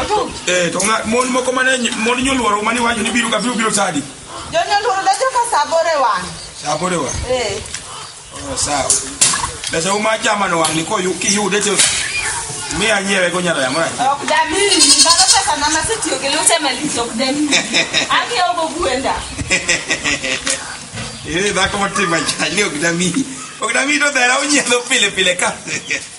Otum. Eh, to ng'a- mon moko mane ny- mon nyoluoro mane iwacho ni biro ka biro biro sadi. Jonyuol oro dacho ka saa aboro e wang'. Saa aboro e wang'. Eh. Oh, sawa. Pesa uma chama no wang' ni ko yu- kiyude to mi anyiewe go nyara yamara. Ok damiyi, ndalo pesa na masetiyo gi lute malich ok damiyi. Ang'iewo go gwenda. Eh, dhako motimo ajayo ok dami. Ok dami to dhera onyiedho pile pile ka.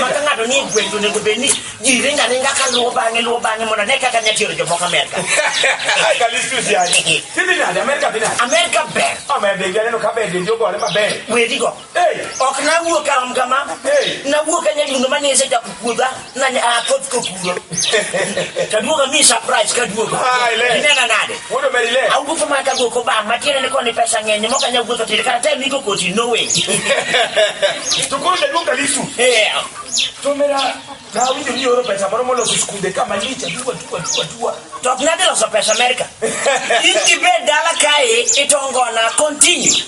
ma ka ng'ato ni e gweng' to onego bed ni ji ringo aringa ka luwo bang'e luwo bang'e mondo ane kaka nya tiero jomoko amerka amerka ber wedigo ok nawuok aom kama nawuok anyalundo ma nise chako puodha nanya akoth kokuro taduoga mi surprise kaduogo inena nade Wuod Omerile. Awuotho mana ka guok obam matiende ni koni pesa ng'eny mok anyal wuotho tir kata tem iko koti no way. To koro jaduong' Kalisu. Yeah. To mera nawinjo ni oro pesa moro moloso skunde ka malich aduwa aduwa aduwa aduwa. To ok nadhi loso pesa Amerika. In gibed dala kae itongona continue.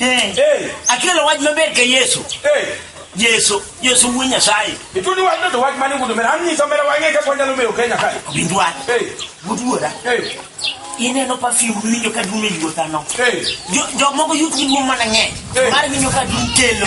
Eh. Eh. Akelo wach maber ka Yesu. Eh. Yesu, Yesu wuo Nyasaye. Ituni wach no to wach mane ngudo mera anyiso mera wang'e kaka wanyalo meyo Kenya kae. Winj wach. Eh. Wuduora. Eh. Ineno perfume winjo ka dum e yuota no. Eh. Jok moko yutgi duong' mana ng'eny. Eh. Mar winjo ka dum kelo.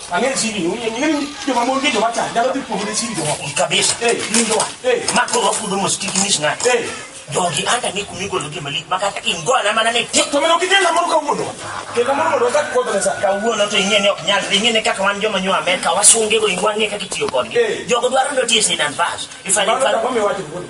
Ang'eyo siri ni ung'eyo ng'eyo ni joma mon gi joma cha nyalo dhi kuom ne siri joma ok kabisa. Eh, winjo wa. Eh, mako wa kudo mos kiki mis na. Eh, jogi anda ni kumi golo gi malik maka ta in go na mana ne tik. To meno kike la mon ka wudo. Ke ka mon wudo ka ko da sa. Ka wudo to ing'e ni ok nyal dhi ng'e ne kaka wan joma nywa Amerika wasunge go ingwa ng'e kaka itiyo kodgi. Eh. Jogo dwaro ndo tiye sinan bas. Ifanye Mano ka kama wacho wudo.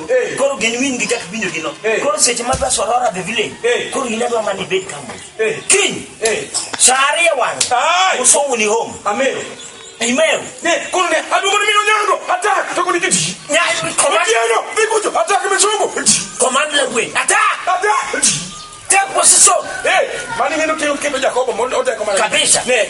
Hey. Koro gen win gi chak winjo gino. Hey. Koro seche ma bas orora the village. Hey. Koro in adwa mani bed kama. Hey. King. Hey. Sari ya wang. Ay. Uso uni home. Amen. Amen. Ne, koro ne, adu mani mino nyango. Attack. Toko ni kiti. Nya, command. Otieno, vikujo. Attack me chungu. Command le gwe. Attack. Attack. Take position. Hey. Mani mino kio kipe Jacobo. Kabisa. Ne.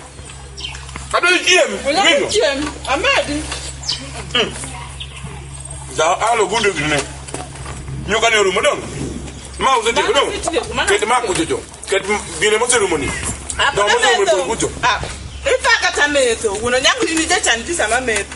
Adol chiem. Wala Winyo. chiem. Amadi. Da alo gunde gine. Nyoka ne rumo don. Ma uze te don. Ket ma kujo jo. Ket gine mo serumo ni. Don mo serumo kujo. Ah. Ifa kata meto. Wuno nyangu ni jecha ndisa ma meto.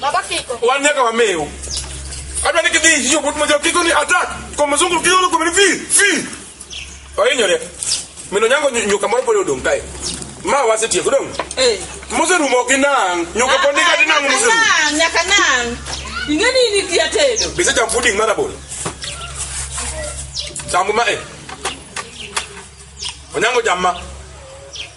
Baba Kiko. Wan nyaka wamew. Adwa ni kidhi hiyo but moja Kiko ni attack. Kwa mzungu Kiko lo kumeni fi fi. Oyinyore. Mino nyango nyuka moro polo dong kae. Ma wasetieko dong. Eh. Mose rumo gi nang. Nyuka ah, pondika ti nang mose. Nang nyaka nang. Ingeni ni kia tedo. Bisa jam pudding mara bolo. Sambu ma eh. Onyango jamma.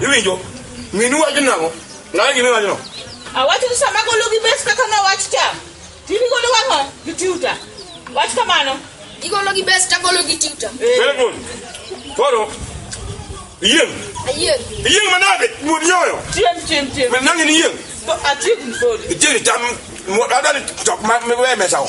Iwinjo? Minu wacho nang'o? Ng'awa gima iwacho no? Awacho ni sama golo gi bes kaka na wach cha. Tini golo wang'o gi tiuta. Wach kamano. Igolo gi bes ta golo gi tiuta. Very good. Koro, iyieng'. Ayieng'. Iyieng' manade? Wuod nyoyo. Chiem chiem chiem. Men nang'e ni iyieng'. To achieng' ni kodi. Ichieng' icham, adani chok ma miwe mesawo.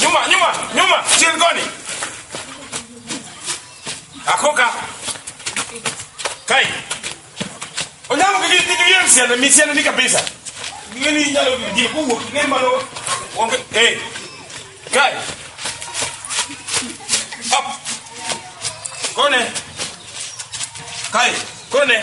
Nyuma, nyuma, nyuma, chilgoni. Akoka. Kai. Onyango kiki kitu yeye msiana, msiana ni kabisa. Ngeni nyalo kiki kuwo, ngeni malo. Onge, eh. Kai. Up. Kone. Kai, kone.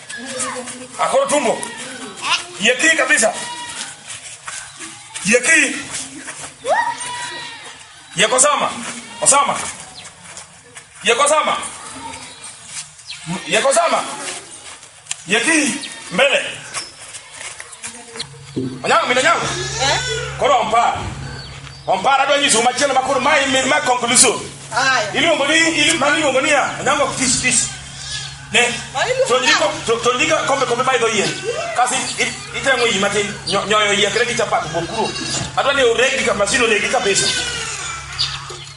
Akoro tumbo. Yeki kabisa. Yeki. Yeko sama. Osama. Yeko sama. Yeko sama. Yeki mbele. Onyango min onyango. Eh? Koro ompara. Ompara dwa nyisu machielo makoro ma imin ma conclusion. Aya. Iluongo ni iluongo ni iluongo ni ya. Onyango fish fish. Ne. To ndiko to to ndiko kombe kombe bai do yie. Kasi itengo yie matin nyo- nyoyo yie kile kichapa bokuro. Adwa ni uregi kama sino ne gikabisa.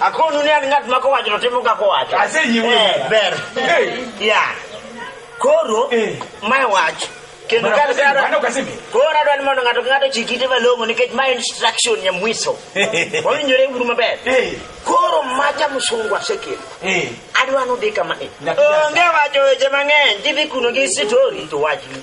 Akonu ni an ng'at ma kowacho to timo kaka owacho. Asejiwo. Eh, ber. Eh. Ya. Koro Eh. mae wach kendo Bwana ka Kasimi, dwaro- bwana Kasimi. koro adwaro ni mondo ng'ato ka ng'ato chik ite malong'o nikech mae instruction nyamwiso. Wawinjore uru maber. Eh. Koro maja msungu asekelo. Eh. Adwaro ni udhi kama ni. Nyaka Onge wacho weche mang'eny, gidhi kuno gi story to wachni.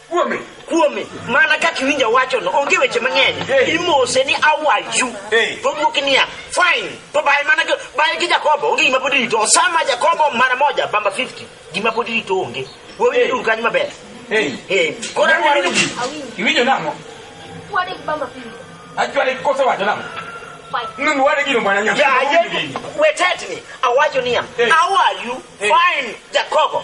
Kuome. kuome mana kaka iwinja wachono onge weche mang'eny Hey. imose ni awaju Hey. to odwoki niya fine to baye mana gi- baye gi jakobo onge gima pod irito osama jakobo mara moja bamba 50 gima pod irito onge wawinjo duru kanyo maber Hey. Eh, koro Kora adwaro ni Iwinjo nang'o? Wade gi bamba pili. Achwale kosa wacho nang'o? Fine. Nungu wade gino bwana nyako. yaye wetetni awacho niya Hey. awaju Hey. fine jakobo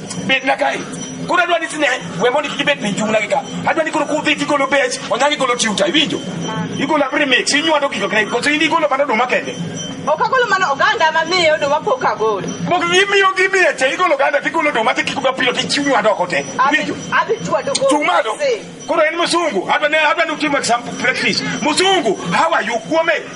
bet na kae koro adwa ni tine we mondo kik ibed piny chung'na gi ka adwa ni koro kudhi tigolo bech onyango igolo tiuta iwinjo igolo abri mix inywando gigo kre koso in igolo mana oduma kende ok agolo mana oganda mamiyo oduma pok agolo mok imiyo gimiye te igolo oganda tigolo oduma tikiko gapilo tichiwnywando oko te iwinjo adhi chwado chung' malo koro en msungu adwa ni adwa ni utimo example practice msungu how are you kuome